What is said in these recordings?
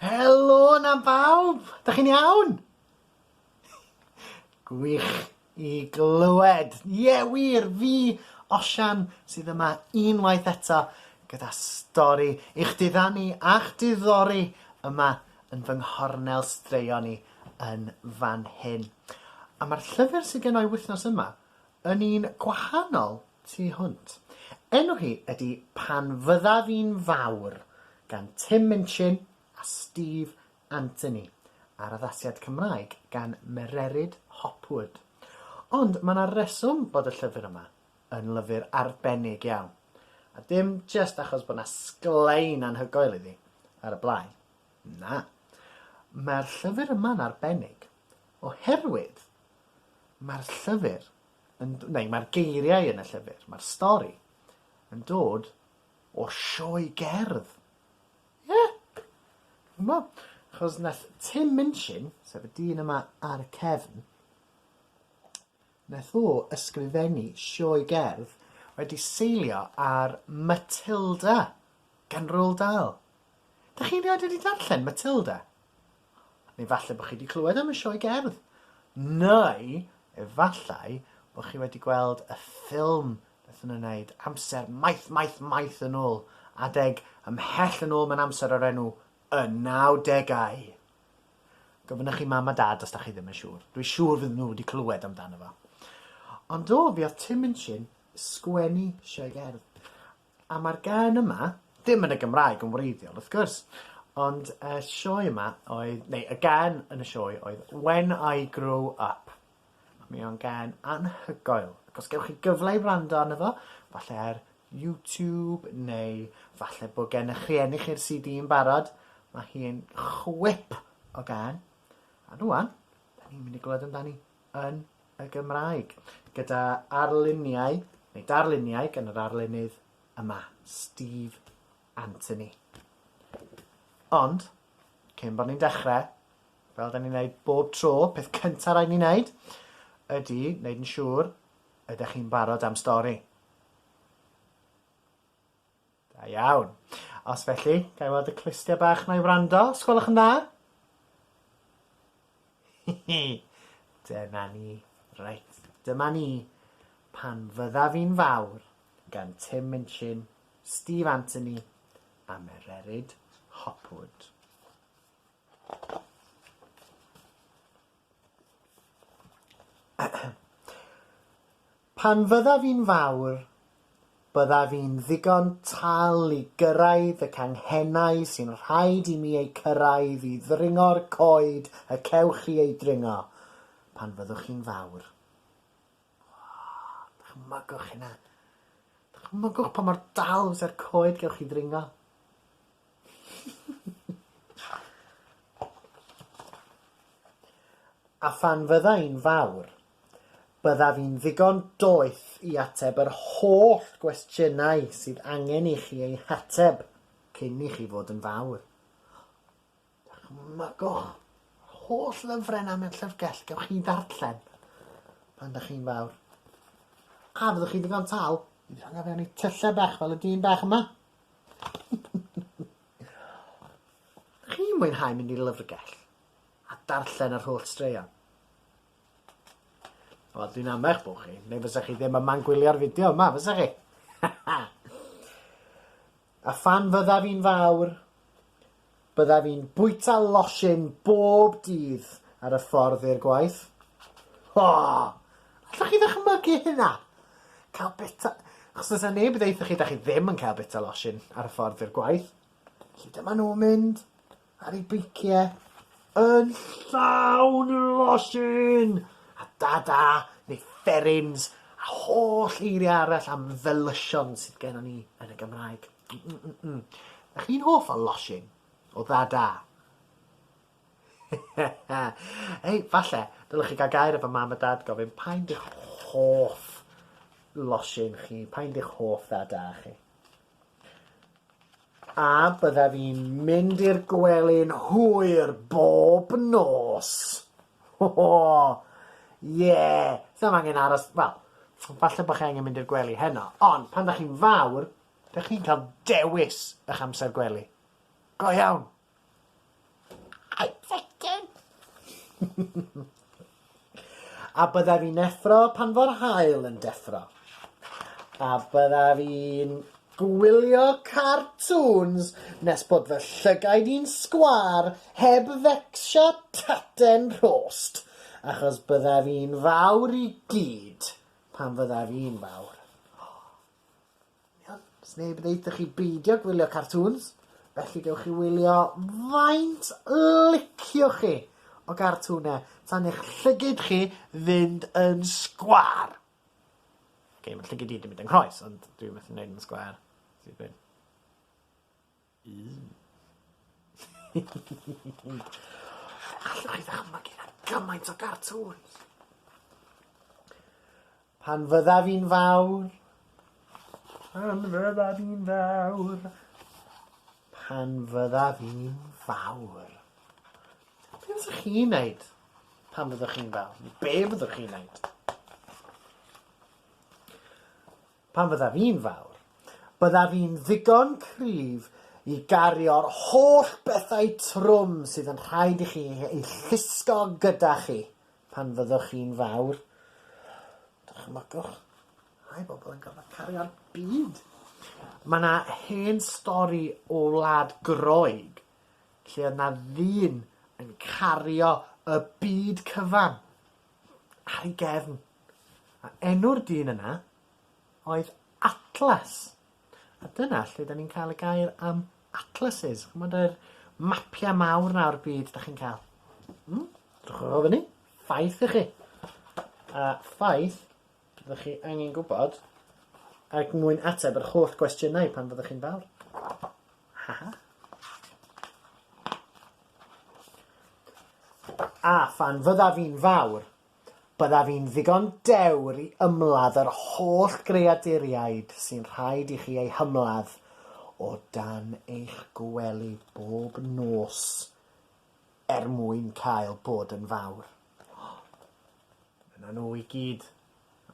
Helo na bawb! Da chi'n iawn? Gwych i glywed. Ie, yeah, wir, fi, Osian, sydd yma unwaith eto gyda stori i'ch diddanu a'ch diddori yma yn fy nghornel straeon i yn fan hyn. A mae'r llyfr sydd gen i wythnos yma Yn un gwahanol tu hwnt. Enw hi ydy Pan Fyddaf I'n Fawr gan Tim Minchin a Steve Anthony, a'r addasiad Cymraeg gan Mererid Hopwood. Ond mae 'na reswm bod y llyfr yma yn lyfr arbennig iawn, a dim jyst achos bod 'na sglein anhygoel iddi ar y blaen, na, mae'r llyfr yma'n arbennig oherwydd Mae'r llyfr, yn, neu mae'r geiriau yn y llyfr, mae'r stori, yn dod o'r sioe gerdd. Ie? Yeah. Yma, chos nath Tim Minchin, sef y dyn yma ar y cefn, nath o ysgrifennu sioe gerdd wedi seilio ar Matilda gan Roald Dahl. Dych chi rioed wedi darllen Matilda? Neu falle bod chi wedi clywed am y sioe gerdd. Neu efallai bod chi wedi gweld y ffilm beth yn wneud amser maith, maith, maith yn ôl. Adeg ymhell yn ôl mae'n amser o'r enw y 90au. Gofynnwch i mam a dad os da chi ddim yn siŵr. Dwi siŵr fydden nhw wedi clywed amdano fo. Ond do, fi oedd Tim Minchin sgwennu sioe gerdd. A mae'r gân yma, ddim yn y Gymraeg yn wreiddiol wrth gwrs, ond y sioe yma oedd, neu y gân yn y sioe oedd When I Grow Up. A mi o'n gân anhygoel. Ac os gewch chi gyfle i wrando arno fo, falle ar YouTube neu falle bod gen eich rhieni chi'r CD yn barod, mae hi'n chwip o gân. A rwan, da ni'n mynd i glywed amdani. yn y Gymraeg, gyda arluniau, neu darluniau gan yr arlunydd yma, Steve Anthony. Ond, cyn bod ni'n dechrau, fel da ni'n gwneud bob tro, peth cyntaf rhaid ni'n gwneud ydy wneud yn siŵr ydych chi'n barod am stori. Da iawn. Os felly, ga i weld y clustiau bach 'na i wrando, os gwelwch yn dda? Dyna ni. Reit, dyma ni. Pan fyddaf i'n fawr, gan Tim Minchin, Steve Anthony a Mererid Hopwood. Pan fyddaf i'n fawr, byddaf i'n ddigon tal i gyrraedd y canghennau sy'n rhaid i mi eu cyrraedd i ddringo'r coed y cewch chi eu dringo pan fyddwch chi'n fawr. Oh, dychmygwch hynna. Dychmygwch pa mor dal fyse'r coed gewch chi ddringo. A phan fydda i'n fawr, byddaf i'n ddigon doeth i ateb yr holl gwestiynau sydd angen i chi eu hateb cyn i chi fod yn fawr. Dychmygwch yr holl lyfrau yna mewn llyfrgell, gewch chi ddarllen pan ydych chi'n fawr. A fyddwch chi'n ddigon tal i rhoi fe yn ei tyllau bach fel y dyn bach yma? Chi'n mwynhau mynd i'r lyfrgell a darllen yr holl straeon? Wel, dwi'n am eich bod chi, neu fysa chi ddim yma'n gwylio'r fideo yma, fysa chi? A phan fyddaf i'n fawr, byddaf i'n bwyta losin bob dydd ar y ffordd i'r gwaith. O! Allwch chi ddychmygu hynna? Cael bita... Achos fysa neb yn deutha chi da chi ddim yn cael bita losin ar y ffordd i'r gwaith. Felly dyma nhw'n mynd. ar ei beicie yn llawn losin a dada neu fferins a holl eiriau arall am felysion sydd gennon ni yn y Gymraeg. Mm-mm-mm. Ych chi'n hoff o losin? O ddada? Ei, falle, dylech chi gael gair efo mam a dad gofyn pa'n dych hoff losin chi, pa'n dych hoff ddada chi. A byddaf i'n mynd i'r gwely'n hwyr bob nos! Ho ho! Ie! S'am angen aros, wel, falle bod chi angen mynd i'r gwely heno, ond pan 'dach chi'n fawr, 'dych chi'n cael dewis 'ych amser gwely. Go iawn! I like it! A byddaf i'n effro pan fo'r haul yn deffro. A byddaf i'n gwylio cartŵns nes bod fy llygaid i'n sgwâr heb fecsio taten rhost, achos byddaf i'n fawr i gyd pan fyddaf i'n fawr. Iawn, sneb yn deutha chi beidio gwylio cartŵns, felly gewch chi wylio faint liciwch chi o gartŵne tan eich llygid chi fynd yn sgwar. Ok, mae llygid i wedi mynd yng nghroes, ond dwi methu neud yn sgwar. Sy'n gwyn. Alla i ddychmygu na gymaint o gartŵns! Pan fyddaf i'n fawr. Pan fyddaf i'n fawr. Pan fyddaf i'n fawr. Be fyddwch chi'n neud pan fyddwch chi'n fawr? Be fyddwch chi'n neud? Pan fyddaf i'n fawr, byddaf i'n ddigon cryf i gario'r holl bethau trwm sydd yn rhaid i chi eu llusgo gyda chi pan fyddwch chi'n fawr. Dychmygwch rhai bobl yn gorfod cario'r byd! Mae yna hen stori o wlad Groeg lle oedd yna ddyn yn cario y byd cyfan ar ei gefn. A enw'r dyn yna oedd Atlas. A dyna lle da ni'n cael y gair am atlases. Chymod yr mapiau mawr na o'r byd da chi'n cael? Hmm? Drwch o fyny. Ffaith i chi. A ffaith, ydych chi angen gwybod, ac mwyn ateb yr holl gwestiynau pan fyddwch chi'n fawr. Ha ha. A phan fyddaf fi'n fawr, Byddaf i'n ddigon dewr i ymladd yr holl greaduriaid sy'n rhaid i chi eu hymladd o dan eich gwely bob nos er mwyn cael bod yn fawr. Yna nhw i gyd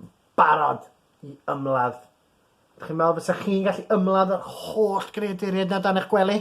yn barod i ymladd. Chi'n meddwl fysa chi'n gallu ymladd yr holl greaduriaid na dan eich gwely?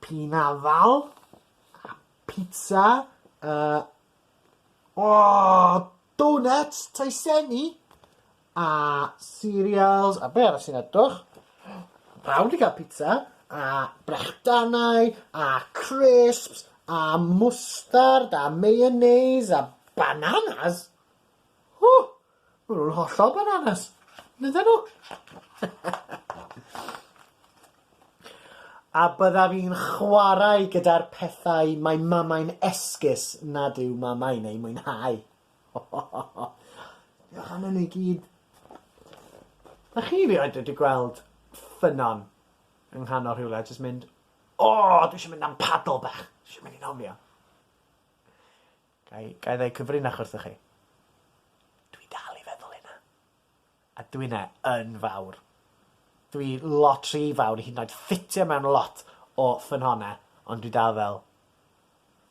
P'un afal. Pizza. Yy. O! Donuts! Taesenni! A cereals. A be' arall sy'n edrych? Pawb 'di ca'l pizza. A brechdanau. A crisps. A mwstard. A mayonnaise. A bananas. Ww! Maen nhw'n hollol bananas. Fydden nhw? A byddaf i'n chwarae gyda'r pethau mae mamau'n esgus nad yw mamau'n eu mwynhau. Diolch am hynny i gyd. Dach chi rioed wedi gweld ffynnon yng nghanol rhywle a jyst mynd, O, dwi eisiau mynd am paddle bach. Dwi eisiau mynd i nofio. Ga i, ga i ddau cyfrinach wrthoch chi? Dwi dal i feddwl hynna. A dwi yna yn fawr. Dwi lot rhy fawr i hyd yn oed ffitio mewn lot o ffynhona, ond dwi dal fel,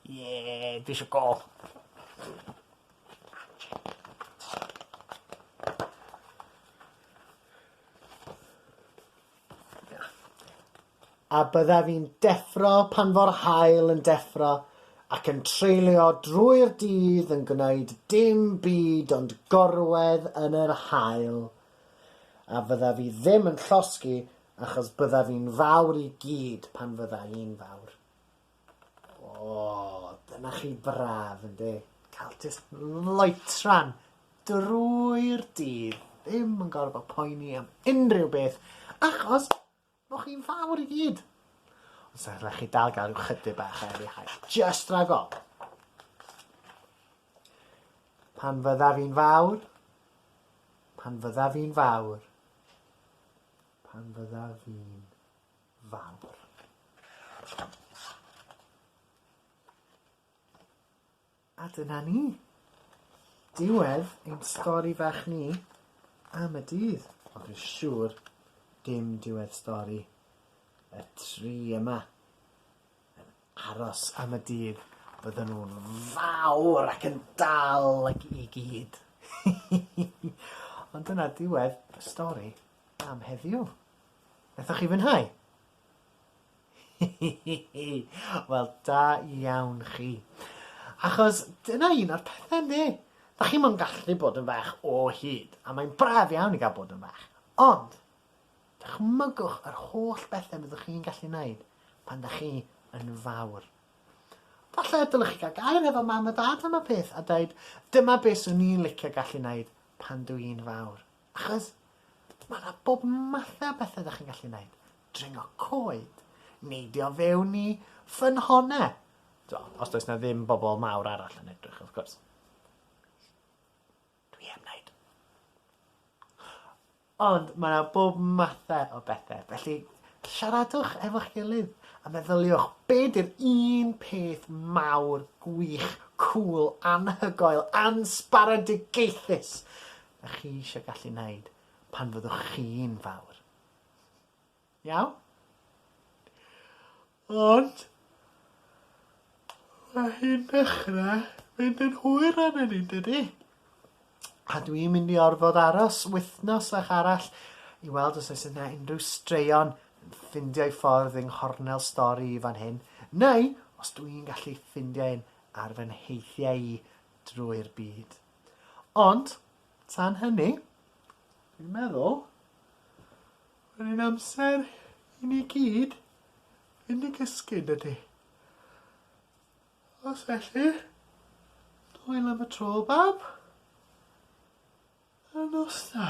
Ie, dwi eisiau gol! A byddaf i'n deffro pan fo'r haul yn deffro ac yn treulio drwy'r dydd yn gwneud dim byd ond gorwedd yn yr haul. A fyddaf i ddim yn llosgi achos byddaf i'n fawr i gyd pan fydda i'n fawr. O! Dyna chi braf ynde? Ca'l jyst loitran drwy'r dydd ddim yn gorfod poeni am unrhyw beth achos bo' chi'n fawr i gyd. Ond sa rhai' chi dal ga'l rhyw chydig bach o eli haul. Jyst ragor. Pan fyddaf i'n fawr, pan fyddaf i'n fawr, pan fyddaf i'n fawr. A dyna ni. Diwedd ein stori fach ni am y dydd. Ond dwi'n siŵr dim diwedd stori y tri yma yn aros am y dydd. Bydden nhw'n fawr ac yn dal ag i gyd. Ond dyna diwedd y stori am heddiw. Nathoch chi fwynhau? Wel da iawn chi. Achos dyna un o'r pethe yndi? Dach chi'm yn gallu bod yn fach o hyd, a mae'n braf iawn i gael bod yn fach. Ond, dychmygwch yr holl bethau byddwch chi'n gallu wneud pan dach chi yn fawr. Falle dylech chi gael gair efo mam a dad am y peth a dweud, dyma beth swn i'n licio gallu wneud pan dw i'n fawr. Achos mae 'na bob mathau o bethau 'da chi'n gallu gwneud. Dringo coed, neidio fewn i ffynhonnau. Os does 'na ddim bobl mawr arall yn edrych, wrth gwrs. Dwi heb wneud. Ond mae 'na bob mathau o bethau, felly siaradwch efo'ch gilydd a meddyliwch be 'di'r un peth mawr, gwych, cŵl, anhygoel, ansbaredigaethus dach chi eisiau gallu wneud pan fyddwch chi'n fawr. Iawn? Ond, mae hi'n dechrau mynd yn hwyr arnyn ni, dydy? A dwi'n mynd i orfod aros wythnos a'ch arall i weld os oes yna unrhyw straeon yn ffindio ei ffordd yng nghornel stori i fan hyn, neu os dwi'n gallu ffindio un ar fy nheithiau i drwy'r byd. Ond, tan hynny, dwi'n meddwl, mae'n ein amser i ni gyd fynd i gysgu, yn dydy? Os felly, hwyl am y tro, bab. A nos da.